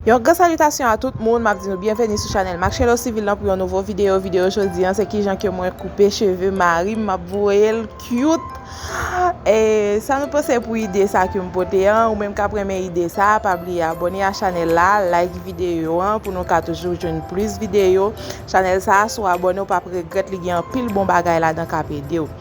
Yon gran salitasyon a tout moun, map di nou byenveni sou chanèl Marcello Civil lan pou yon nouvo video, video jodi an se kijan ke mwen koupe cheve marim map voyel cute e sa nou panse pou ide sa kem pote an, ou menm kap renmen ide sa pa bliye abòne a chanèl la, like video an pou nou ka toujou jwenn plis video, chanèl sa si w abòne ou pap regrèt li gen anpil bon bagay ladan kap edew.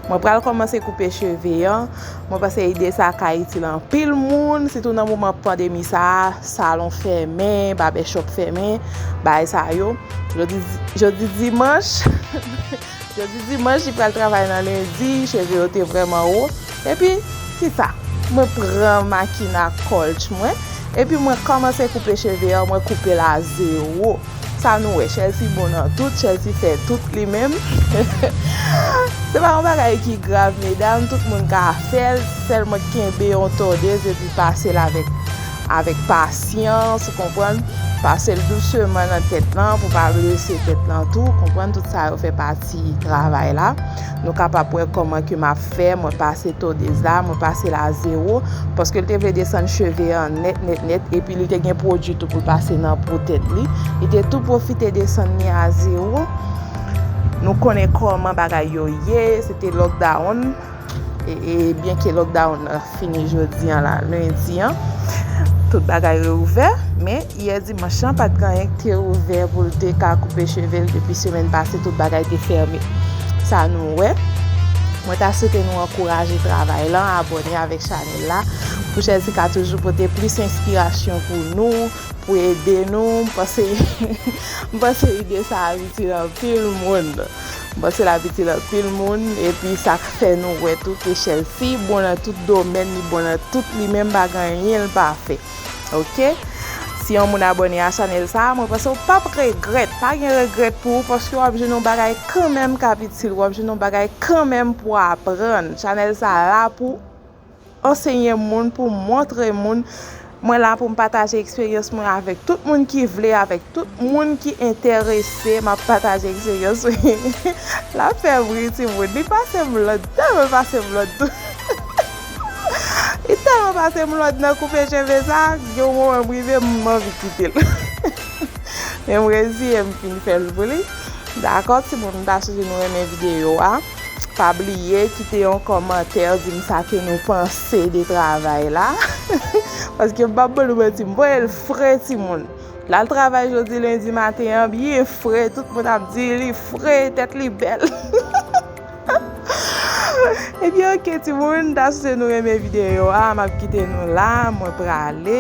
Mwen pral kòmanse koupe cheve an. Mwen panse ide sa ka itil anpil moun, sitou nan moman pandemi sa a, salon fèmen, babèchòp fèmen, bagay sa yo. Jodi dimanch, jodi dimanch li pral travay nan lendi, cheve yo te vrèman wo. Epi, ti ta, mwen pran makina kòlch mwen, epi mwen kòmanse koupe cheve yo, mwen koupe l a zewo. Sa nou wè Chelsea bon nan tout, Chelsea fè tout li menm. Se pa yon bagay ki grav medam, tout moun ka fèl, sèlman kenbe yon tondez epi pasel avèk avèk pasyans, ou konprann? Pasel douseman nan tèt lan pou pa blese tèt lan tou, konprann tout sa yo fè pati travay la. Nou kapab wè kòman ke map fè, mwen pase to des a, mwen pase l a zero, paske l te vle desann cheve an nèt nèt nèt, epi li te gen pwodui tou pou l pase nan po tèt li, li te tou pwofite desann li a zero, nou konnen kòman bagay yo ye, se te lòkdawonn, e byenke lòkdawonn nan. Fini jodi an la, lendi an, tout bagay reouvè. Men, yè dimanch lan, pa t gen anyen ki te ouvè pou l te ka koupe cheve l depi semèn pase tout bagay te fèmen. Sa nou wè? Mwen ta swete nou ankouraje travay lan, abòne avèk chanèl la pou Jèzi ka toujou pote plis enspirasyon pou nou, pou ede nou. M panse ide sa ap itil anpil moun. Bon se lavi til anpil moun epi sa k fè nou wè tou ke Chelsea bon nan tout domèn li bon nan tout li menm pa gen anyen l pa fè ok si yon moun abòne a chanèl sa mwen panse w pap regrèt pa gen regrèt pou ou paske wap jwenn yon bagay kanmenm kap itil wap jwenn yon bagay kanmenm pou aprann chanèl sa la pou Ansenye moun, pou m montre moun. Mwen la pou m pataje eksperyans mwen avèk tout moun ki vle, avèk tout moun ki enterese. M ap pataje eksperyans mwen. L ap fè bri timoun. Li pase m lòd. Li tèlman pase m lòd tou. Li tèlman pase m lòd nan koupe cheve sa, gen yon moman m rive m anvi kite l. Men m reziye m fin fè l pou li. Dakò timoun, m ta swete nou renmen videyo a. Pa bliye kite yon kòmantè dim sa ke nou panse de travay la paske m pap bannou manti m voye l fre timoun l al travay jodi lendi maten an byen fre tout moun ap di li fre tèt li bèl ebyen ok timoun ta sou se nou renmen videyo a map kite nou la mwen prale.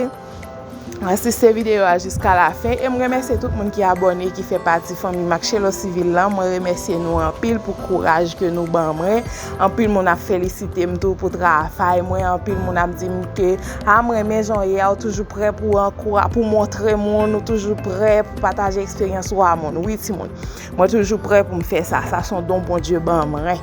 asiste videyo a jiska la fen e m remèsye tout moun ki abòne ki fè pati fanmi Matchelo Civil lan mwen remèsye nou anpil pou kouraj ke nou ban mwen anpil moun ap felisite m tou pou travay mwen anpil moun ap di m ke a m renmen jan w ye a ou toujou prè pou ankou pou montre moun ou toujou prè pou pataje eksperyans ou a moun wi timoun. Mwen toujou prè pou m fè sa, sa son don Bondye ban mwen.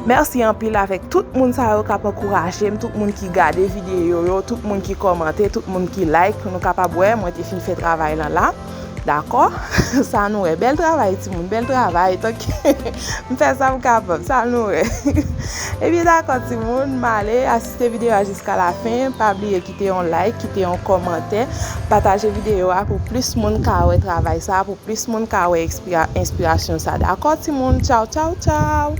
Mèsi anpil avèk tout moun sa yo kap ankouraje m, tout moun ki gade videyo yo, tout moun ki kòmante, tout moun ki like pou nou kapab wè mwen te fin fè travay lan la. Dakò? Sa nou wè? Bèl travay ti moun, bèl travay. Tank m fè sa m kapab, sa nou wè? Ebyen dakò ti moun, m ale. Kite video a jiska la fen, pa bliye kite yon like, kite yon komantè, pataje video a pou plis moun ka wè travay sa, pou plis moun ka wè enspirasyon sa dakò ti moun tchaw tchaw tchaw.